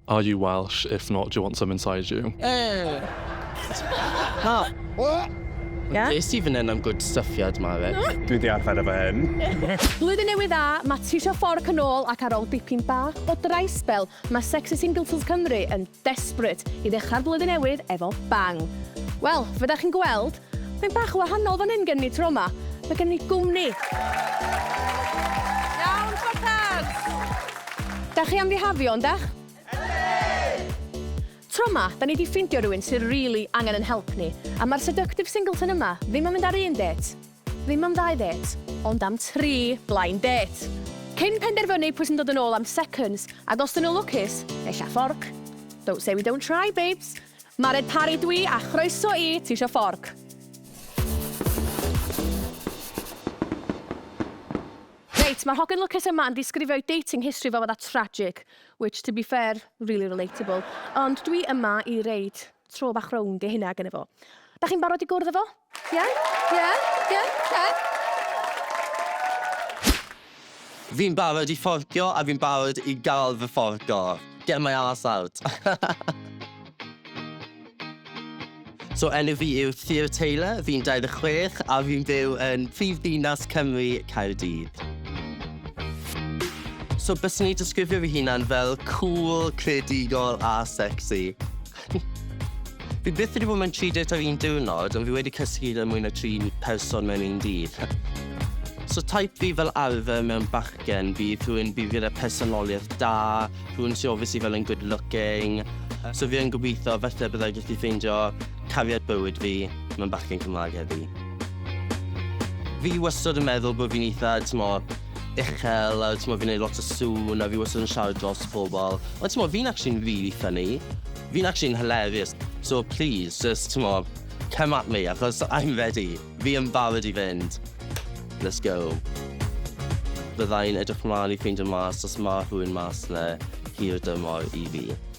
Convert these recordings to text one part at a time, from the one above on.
Are you Welsh? If not, do you want some inside you? Ie? Ddes i fan hyn am gwd syffiad ma fe. Dwi di arfer efo hyn. Blwyddyn Newydd Dda, mae Trisha Fork yn ôl ac ar ôl dipyn bach o dry spell, mae Sexy Singletons Cymru yn desperate i ddechrau'r flwyddyn newydd efo bang. Wel, fe da chi'n gweld, Mae'n bach yn wahanol fan hyn gen ni tro ma. Mae gen ni gwmni. Iawn Spartans! Dach chi am fihafio, yndach? Yndi! Tro ma, da ni di ffindio rywun sy rili angen yn help ni, a ma'r seductive singleton yma ddim yn mynd ar un dêt, ddim am ddau dêt, ond am tri blind date! Cyn penderfynu pwy sy'n dod yn ôl am seconds, ac os dyn nhw lwcus, ella fforc. Don't say we don't try, babes! Mared Parry dw i a chroeso i Ti isio fforc? Reit, mae'r hogyn lwcus yma yn disgrifio'i dating history fel fatha tragic, which to be fair, really relatable, ond dwi yma i reid tro bach rownd i hynna gynna fo. Dach chi'n barod i gwrdd efo? Ie, ie, ie, te. Fi'n barod i fforcio a fi'n barod i gael fy fforco. Get my arse out. So enw fi yw Theo Taylor, fi'n 26 a fi'n byw yn prif ddinas Cymru, Caerdydd. So byswn i'n disgrifio fy hunan fel cool, creadigol a sexy. Fi byth wedi bod mewn tri date ar un diwrnod, ond fi wedi cysgu gyda mwy na tri person mewn un dydd. So type fi fel arfer mewn bachgen bydd rhywun bydd gyda personoliaeth da, rhywun sy'n obviously fel yn good looking. So fi yn gobeithio falle byddai gallu ffeindio cariad bywyd fi mewn bachgen Cymraeg heddi. Fi wastad yn meddwl bod fi'n eitha, t'mo, uchel a t'mod fi'n neud lot o sŵn a fi wastad yn siarad dros pobol. Ond t'mod fi'n actually'n rili ffyni. Fi'n actually'n hilarious. So plîs jyst t'mod come at me achos I'm ready. Fi yn barod i fynd. Let's go. Byddai'n edrych mlan i ffeindio mas os ma' rhywun mas 'na hirdymor i fi.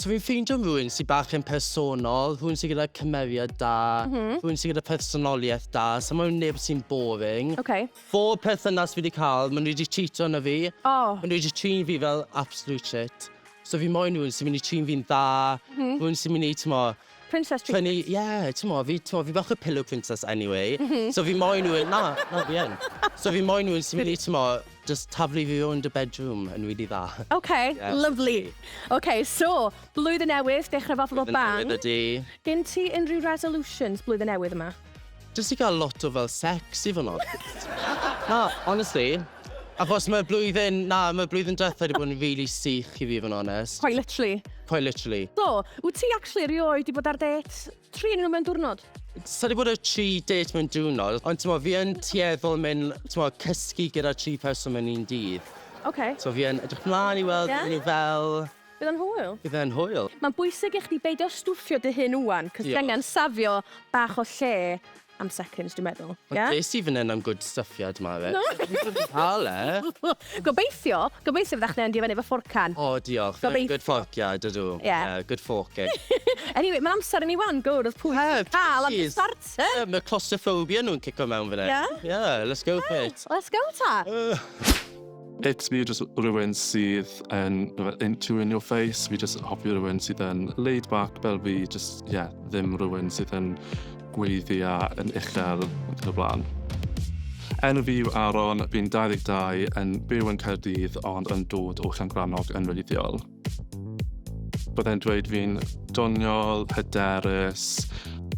So fi'n ffeindio rhywun sydd bach yn personol, rhywun sydd gyda cymeriad da, mhm. rhywun sydd gyda personoliaeth da, so mae'n neb sy'n boring. Oce. Bob perthynas fi wedi cael, maen nhw wedi cheatio arno fi. O! Maen nhw wedi trin fi fel absolute shit. So fi moyn rhywun sy'n mynd i trin fi'n dda, mhm. rhywun sy'n mynd i, t'mo', Princess treatment. Trynu, ie, t'mo' fi t'mo' fi bach o pillow princess anyway. M-hm. So fi moyn rywun, na, na fi yn. So fi moyn rywun sy myn' i t'mo' jyst taflu fi rownd y bedroom yn rili dda. Oce, lyfli. Oce, so, blwyddyn newydd, dechre fo fel bang. Blwyddyn newydd ydi. Gen ti unrhyw resolutions blwyddyn newydd yma? Jyst i gael lot o fel sex i fod yn onest. Na, honestly. Achos mae'r blwyddyn, na, mae'r blwyddyn diwetha' wedi bod yn rili sych i fi i fod yn onest. Quite literally. Quite literally. So, wyt ti actually erioed wedi bod ar dêt? Tri ohonyn nhw mewn diwrnod? Sa' wedi bod ar tri dêt mewn diwrnod, ond timod, fi yn tueddol mynd, timod, cysgu gyda tri person mewn un dydd. Ocê. So fi yn edrych mlaen i weld... Ie? ...be maen nhw fel. Bydd e'n hwyl. Bydd e'n hwyl. Mae'n bwysig i chdi beidio stwffio dy hun ŵan, cos ti angen safio bach o lle am seconds dwi'n meddwl, ie? Ond des i fan hyn am good stuffiad ma ife? Dwi'n cael e! Gobeithio, gobeithio fydda chdi'n mynd i fyny efo forcan. O diolch, fi'n good forciad ydw, ie, good forking. Anyway, mae'n amser i ni ŵan gwrdd pwy sy'n cael y starter! Ie, mae claustrophobia nhw'n cico mewn fan hyn. Ie? Ie, let's go for it. Let's go ta! It's me just rhywun sydd yn into in your face. Fi just hoffi rhywun sydd yn laid back fel fi. Just, yeah, ddim rhywun sydd yn gweiddi a yn uchel yn y blaen. Enw fi yw Aaron, fi'n 22, yn byw yn Caerdydd ond yn dod o Llangrannog yn wreiddiol. Byddai'n dweud fi'n doniol, hyderus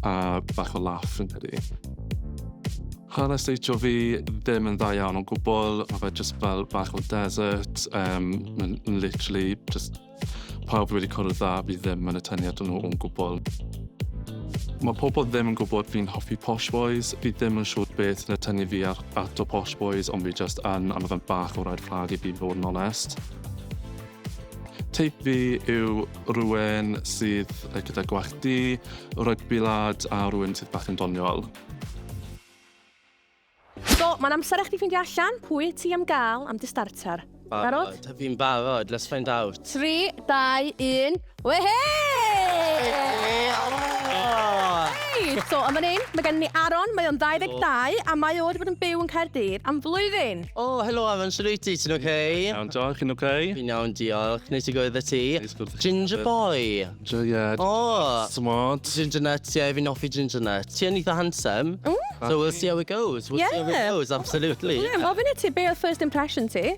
a bach o laff fi'n credu. Hanes deitio fi ddim yn dda iawn o'n gwbl, mae fe jyst fel bach o desert, um, mae'n literally just pawb wedi cwrdd dda fi ddim yn y tyniad nhw o'n gwbl. Mae pobl ddim yn gwybod fi'n hoffi Posh Boys. Fi ddim yn siŵr beth yn y tynnu fi ar, at o Posh Boys, ond fi just yn, a mae fe'n bach o red flag i fi fod yn onest. Teip fi yw rhywun sydd gyda gwallt du, rygbi lad a rhywun sydd bach yn doniol. So, mae'n amser i chdi ffeindio allan pwy ti am gael am dy starter. Barod? Barod, fi'n barod, let's find out. 3, 2, 1. Wehe! Reit, so yn fan hyn, mae gennym ni Aaron, mae o'n 22, a mae o wedi bod yn byw yn Caerdydd am flwyddyn. O, helo Aaron, shwt wyt ti? Ti'n oce? Iawn, diolch, chi'n oce? Fi'n iawn, diolch. Neis i gwrdd â ti. Neis gwrdd â ti. Ginger boy. Ginger, ie. O! Smart. Ginger nut, ie, fi'n hoffi ginger nut. Ti yn eitha handsome. Mm. So we'll see how it goes. We'll see how it goes, absolutely. Ie, gofyn i ti, be oedd first impression ti?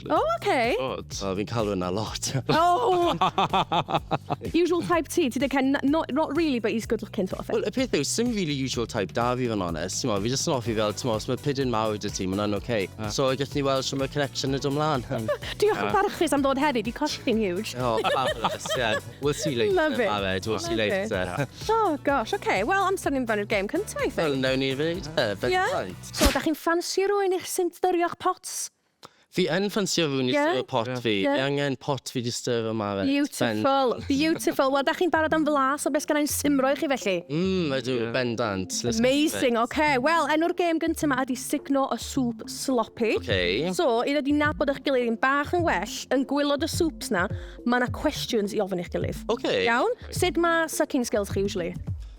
O, oh, oce. Okay. Good. Oh, fi'n cael hwnna lot. oh! usual type ti, ti dweud Ken, not, not really, but he's good looking sort of thing. Wel, y peth yw, sy'n really usual type da fi fan onest. Mo, fi jyst yn offi fel, mo, os mae pidyn mawr dy ti, mae'n oce. Okay. Uh. So, gallwn ni weld sy'n mae connection yn dod mlaen. Diolch yn barchus am ddod heddi, di costing huge. Oh, fabulous, yeah. We'll see later. Love it. Aled, we'll see later. oh, gosh, oce. Okay. Wel, amser ni'n fannu'r game cyntaf, I think. Wel, newn ni fe, yeah. So, da chi'n ffansi rwy'n eich sy'n dyrio'ch pots? Fi yn ffansio rhywun i stir y pot fi. Fi angen pot fi 'di stir o Maret. Beautiful, beautiful. Wel, dach chi'n barod am flas, ond be sgynna i'n simro i chi felly? Mm, ydw, bendant. Amazing, oce. Wel, enw'r gêm gynta 'ma ydi Sugno y Sŵp Sloppy. Oce. So, i ddod i nabod eich gilydd yn bach yn well, yn gwylod y swps 'na, ma' 'na cwestiwns i ofyn i'ch gilydd. Oce. Iawn? Sut ma' sucking skills chi usually?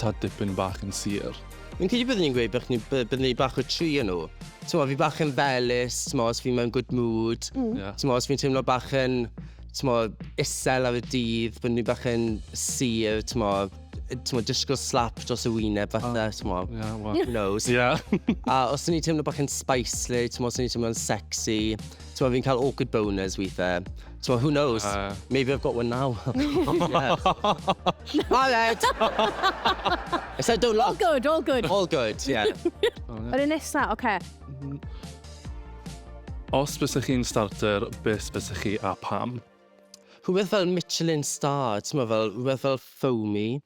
tad dipyn bach yn sur. Fi'n credu byddwn i'n gweud bych ni by- byddwn i bach o tri yn nhw. T'mo' fi bach yn felys, t'mo' os fi mewn good mood. Ie. T'mo' os fi'n teimlo bach yn t'mo' isel ar y dydd, byddwn i bach yn sur, t'mo' yy t'mo' disgo slap dros y wyneb fatha t'mo'... Ie wel... ...who knows? Ie. A os o'n i'n teimlo bach yn spicely, t'mo' os o'n i'n teimlo'n sexy, t'mo' fi'n ca'l awkward boners withe. T'mo' who knows? Yy. Maybe I've got one now. Yeah. Aled! I said don't look. All good, all good. All good, yeah. Yr un nesa, oce. Mhm. Os bysych chi'n starter, beth bysych chi a pam? Rhywbeth fel Michelin star, t'mo' fel rhywbeth fel foamy.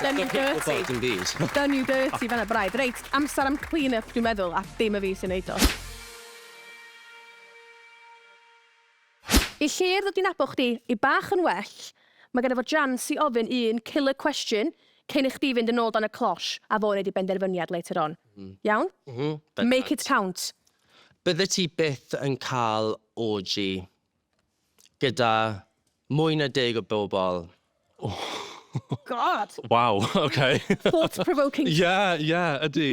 Done you dirty. Done you dirty, fanna braidd. Reit, amser am clean up dwi'n meddwl, a dim y fi sy'n neud o. I Llŷr ddod i nabod chdi i bach yn well, mae ganddo fo jans i ofyn un killer question cyn i chdi fynd yn ôl dan y closh a fo wneud ei benderfyniad later on. Iawn? Make it count. Byddet ti byth yn cael orgy. Gyda mwy na deg o bobl. God! Waw, oce. Thought provoking. Ie, ie, ydy.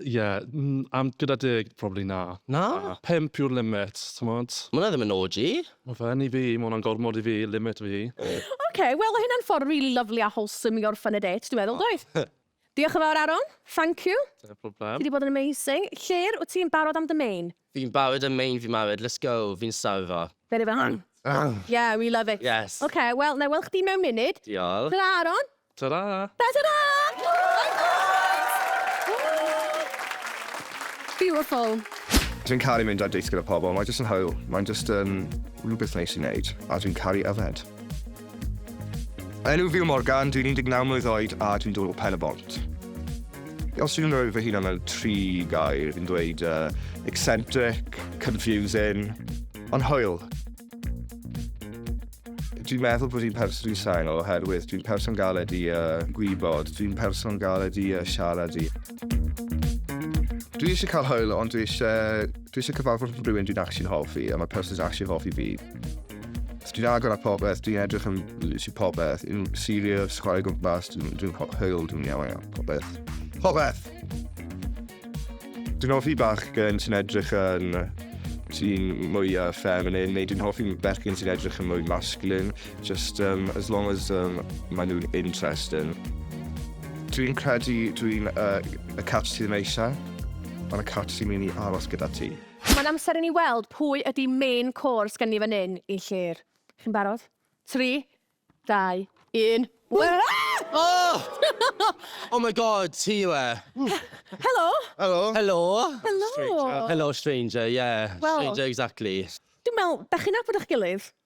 Ie, mm, am gyda deg, probably na. Na? Pump yw'r limit, t'mod? Ma' hwnna ddim yn orgy. Ma' fe yn i fi, ma' hwnna'n gormod i fi, limit fi. Oce, wel o' hynna'n ffordd rili lyfli a wholesome i orffen y dêt, dwi'n meddwl, doedd? Diolch yn fawr Aaron, thank you. Dim problem. Ti di bod yn amazing. Llŷr, wyt ti'n barod am dy main? Fi'n barod am main fi Mawed, let's go, fi'n star efo. Very well. Ang! Ang! Yeah, we love it. Yes. Ok, wel, na i weld chdi mewn munud. Diolch. Tara Aaron. Tara. Ta ta ta! Beautiful. Dwi'n caru mynd ar dates gyda pobl, mae jyst yn hwyl. Mae'n jyst yn rhywbeth neis i wneud, a dwi'n caru yfed. Enw fi yw Morgan, dwi'n 19 mlwydd oed a dwi'n dod o Pen y Bont. Os dwi'n rhoi fy hunan mewn tri gair, fi'n dweud uh, eccentric, confusing, ond hwyl. Dwi'n meddwl bod fi'n person i'n sain oherwydd dwi'n person galed i uh, gwybod, dwi'n person galed i uh, siarad i. Dwi eisiau cael hwyl, ond dwi eisiau, dwi eisiau cyfarfod rhywun dwi'n actually'n hoffi, a mae person sy'n actually'n hoffi fi. Dwi'n agor a popeth, dwi'n edrych am literally popeth. Dwi'n serious, chwarae gwmpas, dwi'n dwi hwyl, dwi'n iawn iawn, popeth. Popeth! Dwi'n hoffi bach gen sy'n edrych yn sy'n mwy uh, feminine, neu dwi'n hoffi bechgyn sy'n edrych yn mwy masculine, just um, as long as um, maen nhw'n interesting. Dwi'n credu dwi'n uh, y cat sydd yn eisiau, ond y cat sy'n mynd i aros gyda ti. Mae'n amser i ni weld pwy ydi main course gen ni fan hyn i Llŷr. Chi'n barod? Tri, dau, un. Oh! Oh my God, ti yw e. Helo! Helo! Helo! Helo! Helo stranger, yeah. Wel... Stranger exactly. Dwi'n me'wl, 'dach chi'n nabod 'ych gilydd?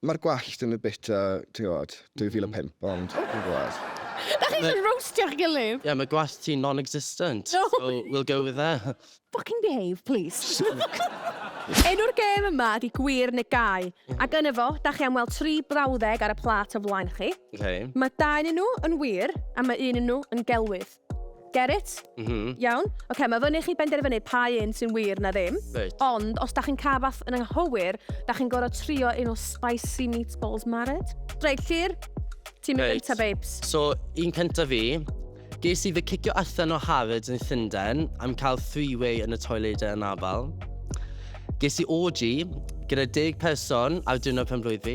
Mae'r gwallt yn y bit, uh, ti'n gwybod, 2005, mm. ond dwi'n gwybod. Da chi eisiau roastio'ch gilydd? Yeah, mae gwallt ti'n non-existent. No. So, we'll go with that. Fucking behave, please. Enw'r gêm yma ydi gwir neu gau, mhm. ac yn efo, da chi am weld tri brawddeg ar y plat o flaen chi. Okay. Mae dau yn nhw yn wir, a mae un yn nhw yn gelwydd. Get it? Mhm. Iawn? Ocê, mae fyny chi benderfynu pa un sy'n wir na ddim. Reit. Ond, os da chi'n cael fath yn anghywir, da chi'n gorfod trio un o spicy meatballs mared. Reit, Llyr, ti'n mynd Reit. gynta, babes. So, un cynta fi. Ges i fy cicio allan o Harrods yn Llundain am cael three-way yn y toiledau yn afal. Ges i orgy gyda deg person ar diwrnod penblwydd fi.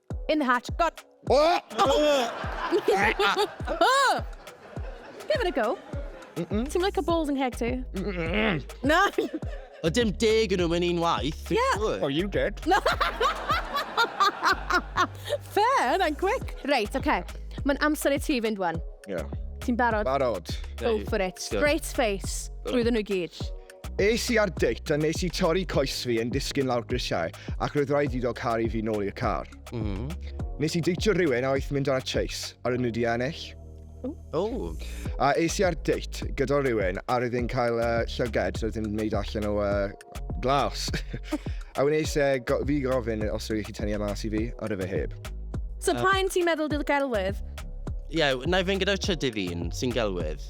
In the hatch. God. Oh! oh! Give it a go. Mm -mm. Ti'n like a balls yn ceg ti? Mm Na! O dim deg yn nhw mewn un waith. Yeah. Oh, you did. Fair, that quick. Reit, oce. Okay. Mae'n amser i ti fynd wan. Yeah. Ti'n barod? Barod. Go for it. Straight face. Drwyddo nhw gyd. Es i ar date a nes i torri coes fi yn disgyn lawr grisiau ac roedd rhaid iddo caru fi nôl i'r car. Mm. Nes i deitio rhywun a oedd mynd ar y chase a rydyn nhw di ennill. Oh. A es i ar date gyda rhywun a roedd yn cael uh, llyged roedd yn wneud allan o uh, glas. a wnes e go fi gofyn os rwy'n chi tynnu yma e mas i fi a rydw e heb. So uh, pa'n ti'n meddwl dy'r gelwydd? Ie, yeah, na i fynd gyda'r trydydd un sy'n gelwydd.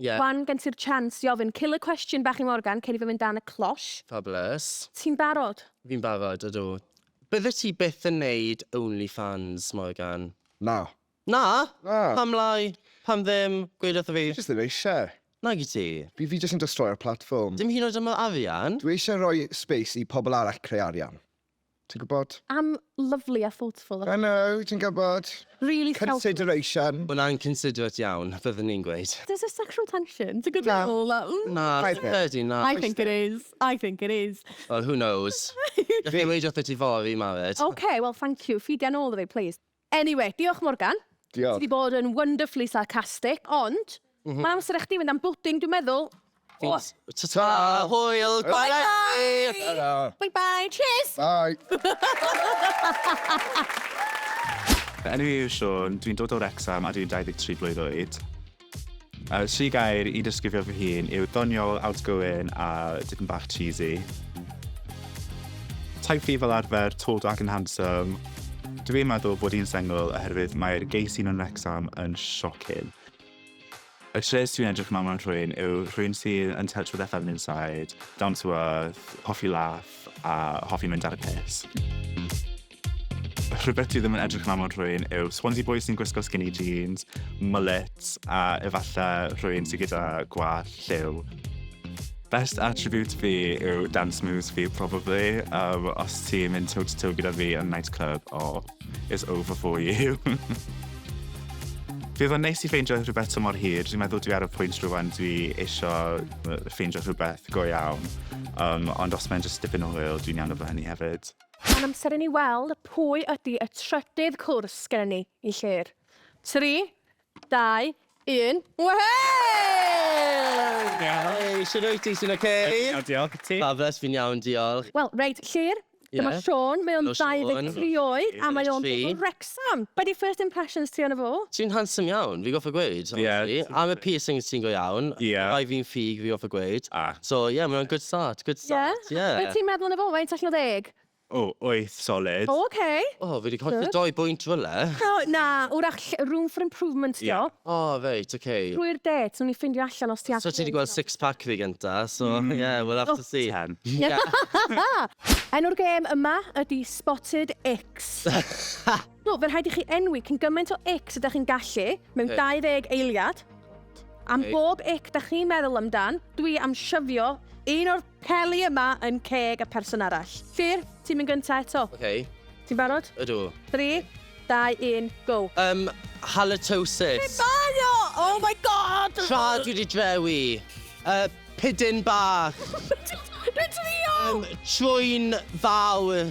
Ie. Wan gen ti'r chance i ofyn killer question bach i Morgan cyn i fe mynd dan y closh. Fabulous. Ti'n barod? Fi'n barod, ydw. Byddet ti byth yn neud OnlyFans, Morgan? Na. Na? Na. Pam lai? Pam ddim? Gweud wrtho fi. Fi jyst ddim eisiau. Nag wyt ti? Fi fi jyst yn destroio'r platform. Dim hyd yn oed am yr arian? Dwi eisiau rhoi space i pobl arall creu arian. Ti'n gwybod? I'm lovely a thoughtful. I know, ti'n gwybod. Really selfless. Consideration. Wel, I'm considerate iawn, byddwn i'n gweud. Does 'na sexual tension? Ti'n gwybod be dwi'n meddwl? Na. Na, fi'n credu na. I think it is. I think it is. Wel, who knows? Gallai weud wrtho ti fory, Mafet. Ok, wel, thank you. Ffidia nôl 'da fi, plis. Anyway, diolch Morgan. Diolch. Ti 'di bod yn wonderfully sarcastic, ond mae'n amser i chdi fynd am bwdin, dwi'n meddwl. Oes. Ta-ta! Hwyl gwaith da chi! Ta-ra! Bye bye! Cheers! Bye! Fy enw i yw Siôn, dwi'n dod o Wrecsam a dwi'n 23 blwydd oed. Y tri gair i disgrifio fy hun yw doniol, outgoing a tipyn bach cheesy. Type fi fel arfer, tall, dark and handsome. Dw i'n meddwl bod i'n sengl oherwydd mae'r gay scene yn Wrecsam yn shocking. Y traits dwi'n edrych ymlaen mewn rhywun yw rhywun sydd yn touch with their feminine side, down to earth, hoffi laff a hoffi mynd ar y piss. Rhywbeth dwi ddim yn edrych yn aml rhywun yw Swansea Boys sy'n gwisgo skinny jeans, mullets a efallai rhywun sy'n gyda gwall lliw. Best attribute fi yw dance moves fi, probably. Um, os ti'n mynd toe to toe gyda fi yn nightclub, oh, it's over for you. Fe fo'n neis i ffeindio rhywbeth to mor hir. Dwi'n meddwl dwi ar y pwynt rhywun dwi eisiau ffeindio rhywbeth go iawn. Um, ond os mae'n just dipyn o hwyl, dwi'n iawn efo hynny hefyd. Mae'n amser i ni weld pwy ydy y trydydd cwrs gennym ni i Llŷr. 3, 2, 1, wehey! Hei, shwd wyt ti, ti'n oce? Iawn, diolch, ti? Fabulous, fi'n iawn, diolch. Wel, reit, Llŷr, dyma Siôn, mae o'n 23 oed a mae o'n dod o Wrecsam. Sam, be di first impressions ti ono fo? Ti'n handsome iawn, fi goffa gweud, honestly. Am y piercings ti'n go iawn. Rai fi'n ffug, fi goffa gweud. So ie, mae o'n good start, good start, ie. Be ti'n meddwl ono fo, faint allan o ddeg? O, wyth solid. O, ok. O, fi di colli dou bwynt rywle. O, na, wrach lle, room for improvement dio. O, reit, ok. Drwy'r dêt, nawn ni ffindio allan os ti at- So ti di gweld six pack fi gynta, so ie, we'll have to see. Ten. Enw'r gêm yma ydi Spotted Ick. Icks! Do, fe rhaid i chi enwi cyn gymaint o icks ydych chi'n gallu, mewn 20 eiliad. Am bob ick da chi'n meddwl amdan, dwi am shyfio un o'r peli yma yn ceg y person arall. Ffyr, ti'n mynd gynta eto. Ok. Ti'n barod? Ydw. 3, 2, 1, go. Yym, halitosis. Be mae o? Oh my god! Tra dwi di drewi. Uh, pidyn bach. Dwi'n trio! Um, trwy'n fawr.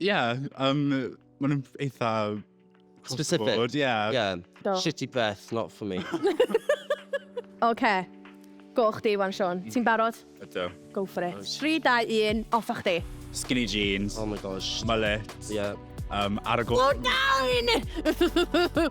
Ie, yym, maen nhw'n eitha... across the Specific. board, Ie. Yeah. Do. Shitty breath, not for me. Oce. Go chdi wan, Siôn. Ti'n barod? Ydw. Go for it. 3, 2, 1, off â chdi. Skinny jeans, Oh my gosh. mullet, Ie. yym, ar y go... Go down!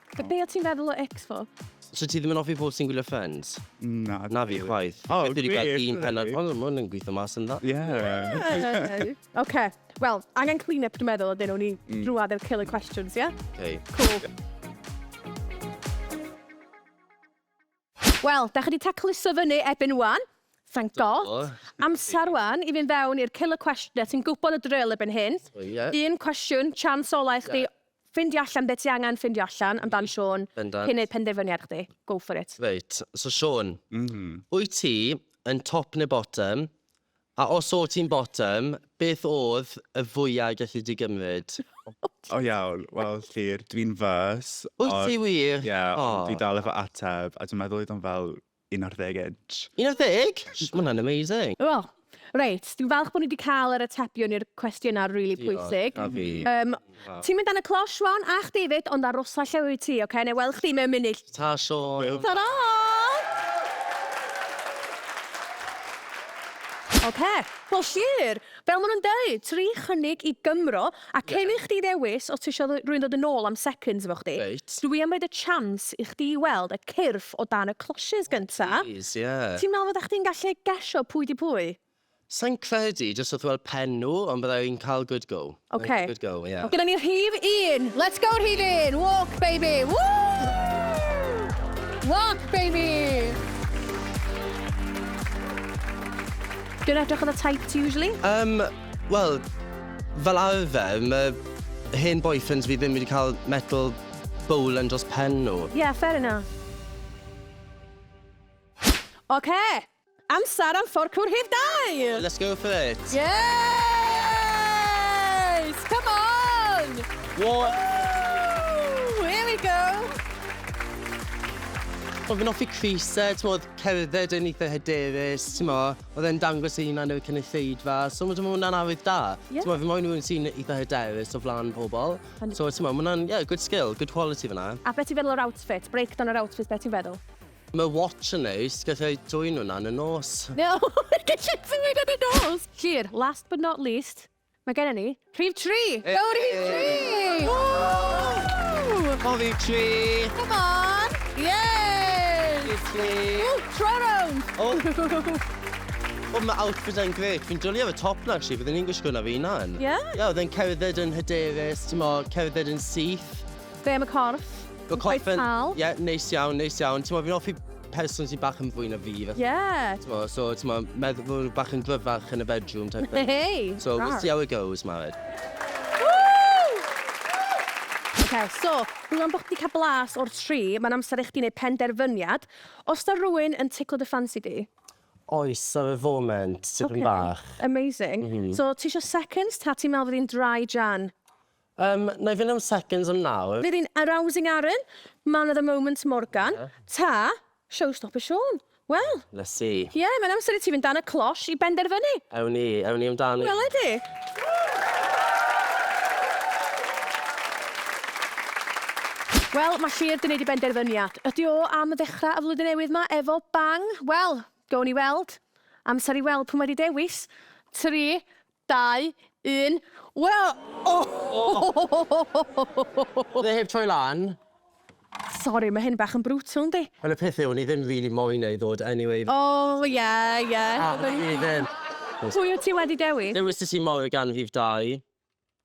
So be o ti'n feddwl o X-Fo? So ti ddim yn offi pobl sy'n gwylio Friends? Na. Na fi chwaith. O, gwych! Fi wedi gweld un pennod, ond ma' hwn yn gweithio mas yn dda. Ie! Ocê, wel, angen clean up dwi'n meddwl ydyn, wni drwad ar killer questions, ie? Ok. Cŵl. Wel, dach chi 'di tacluso fyny ebyn wan. Thank God. Amser wan i fynd fewn i'r killer cwestiynau, ti'n gwybod y drill ebyn hyn. Un cwestiwn, chance ola i chdi ffindio allan be ti angen ffindio allan amdan Siôn cyn neud penderfyniad chdi. Go for it. Reit, so Siôn, wyt ti yn top neu bottom A os o't ti'n bottom, beth odd y fwya i gallu di gymryd? O iawn, wel Llŷr, dwi'n first. Wyt ti wir? Ie, ond dwi dal efo ateb, a dwi'n meddwl oedd o'n fel 11 inch. 11? Shh, ma' hwnna'n amazing. O, reit, dwi'n falch bod ni 'di cael yr atebion i'r cwestiynau rili pwysig. Diolch, a fi. Ti'n mynd dan y closh wan a chdi fyd ond arosa lle wyt ti oce nai weld chdi mewn munud. Ta Siôn. Tara! Oce, wel Llŷr, fel ma nhw'n deud, tri chynnig i Gymro, a cyn i chdi ddewis os ti isio rhywun ddod yn ôl am seconds efo chdi, dw i am roid y chance i chdi weld y cyrff o dan y closhes gynta. Plîs, ie. Ti'n meddwl fydda chdi'n gallu gesio pwy 'di pwy? Sai'n credu, jyst wrth weld pen nhw, ond bydda i'n cael good go. Ok. Good go, ie. Gyda ni rhif un! Let's go rhif un! Walk baby! Woo! Walk baby! Dwi'n edrych ar y types usually. Yym, wel, fel arfer, mae hen boyfriends fi ddim wedi cael metal bowl yn dros pen nhw. Yeah, fair enough. Ok! Amser am fforcwr rhif dair! Let's go for it! Yes! Come on! What? Woo! Here we go! Wel fi'n hoffi Chris e, t'mod cerdded yn eitha hyderus, t'mo', o'dd e'n dangos ei hunan i'r cynulleidfa, so ma' t'mo' ma' wnna'n arwydd da. Ie. T'mo' fi moyn rywun sy'n eitha hyderus o flan pobol. Hundred percent. So t'mo' ma' wnna'n ie good skill, good quality fan 'na. A be' ti'n feddwl o'r outfit? Breakdown yr outfit, be' ti'n feddwl? Mae watch yn neis, gallai dwyn hwnna yn y nos. No, gallai dwyn hwnna yn y nos! Llwyr, last but not least, mae gennym ni rhif tri! Go rhif tri! Ww! Go rhif tri! Come on! Yes! Rhif tri! Ww, tro rownd! O! Wel, mae outfit yn gret. Fi'n dwlu ar y top na, actually. Fydden ni'n gwisgo na fi na'n. Ie? Ie, oedd e'n cerdded yn hyderus, ti'n mo, cerdded yn syth. Be am y corff? Good Cweit confident. pal. Ie, neis iawn, neis iawn. T'mo' fi'n offi person sy bach yn fwy na fi fatha. Ie! T'mo' so t'mo' meddwl bo' fi bach yn gryfach yn y bedroom type thing. Hei! So we'll see how it goes, Mari. Ocê, so, rŵan bo' chdi 'di ca'l blas o'r tri, ma'n amser i chdi neud penderfyniad. O's 'na rywun yn ticlo dy ffansi di? Oes, ar y foment, tipyn bach. Ocê, amazing. So, tisio seconds ta ti'n meddwl fydd hi'n dry Jan? Yym, na i fynd am seconds am nawr. Nid yn arousing Aaron, man of the moment Morgan, ta showstopper Siôn? Wel. Let's see. Ie, mae'n amser i ti fynd dan y closh i benderfynu. Ewn ni, ewn ni amdani. Wele di. Wel, mae Llŷr 'di neud ei benderfyniad. Ydi o am ddechrau y flwyddyn newydd 'ma efo bang? Wel, gown ni weld. Amser i weld p'un wedi dewis. Tri, Dau, un, wel! O! Oedd e heb troi lan? Sori, mae hyn bach yn brutal, yndi? Wel, y peth yw, o'n i ddim rili moyn e i ddod anyway. O, ie, ie. A, fi ddim. Pwy wyt ti wedi dewis? Dewises i Maura gan rhif dau.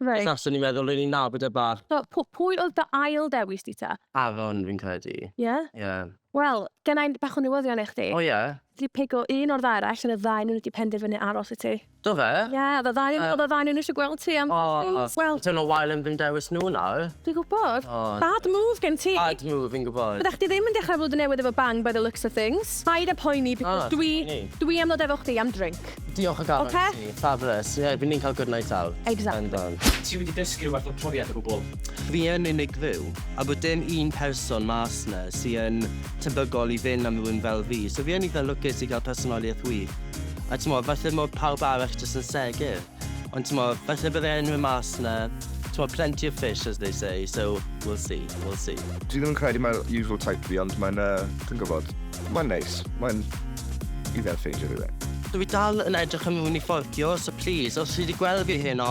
Reit. Achos o'n i'n meddwl o'n i'n nabod e bach. So, p- pwy oedd dy ail dewis di ta? Aaron, fi'n credu. Ie? Ie. Wel, genna i bach o newyddion i chdi. O, ie? Ti 'di pigo un o'r ddau arall, yn y ddau nhw wedi penderfynu aros i ti. Do fe? Ie, oedd y ddau yn... oedd y ddau o nhw eisiau gweld ti am fotograffs. Wel... It's been a while yn fy dewis nhw nawr. Dwi'n gwybod. Bad move gen ti. Bad move, fi'n gwybod. Fyddech chdi ddim yn dechrau flwyddyn newydd efo bang by the looks of things. Paid â poeni because dwi... O, ni. ...dwi am ddod efo chdi am drink. Diolch o galon i ti. Ocê? Fabulous. Ie, fi'n ni'n cael good night out. Exactly. Yndan. Ti wedi dysgu rhywbeth o'r profiad o gwbl? Fi yn unig fyw, a bod dim un person mas 'na sy yn tebygol i fynd am rywun fel fi, so fi yn eitha' lwcus i gael personoliaeth wych. a t'mod falle mod pawb arall jyst yn segur. Ond t'mod, falle bydde unrhyw mas 'na, t'mod plenty of fish as they say, so we'll see, we'll see. Dwi ddim yn credu mae'r usual type fi ond mae'n yy, dwi'n gwybod, mae'n neis, mae'n i fel ffeindio rhywun. Dwi dal yn edrych am rywun i fforddio, so plîs, os chi 'di gweld fi heno,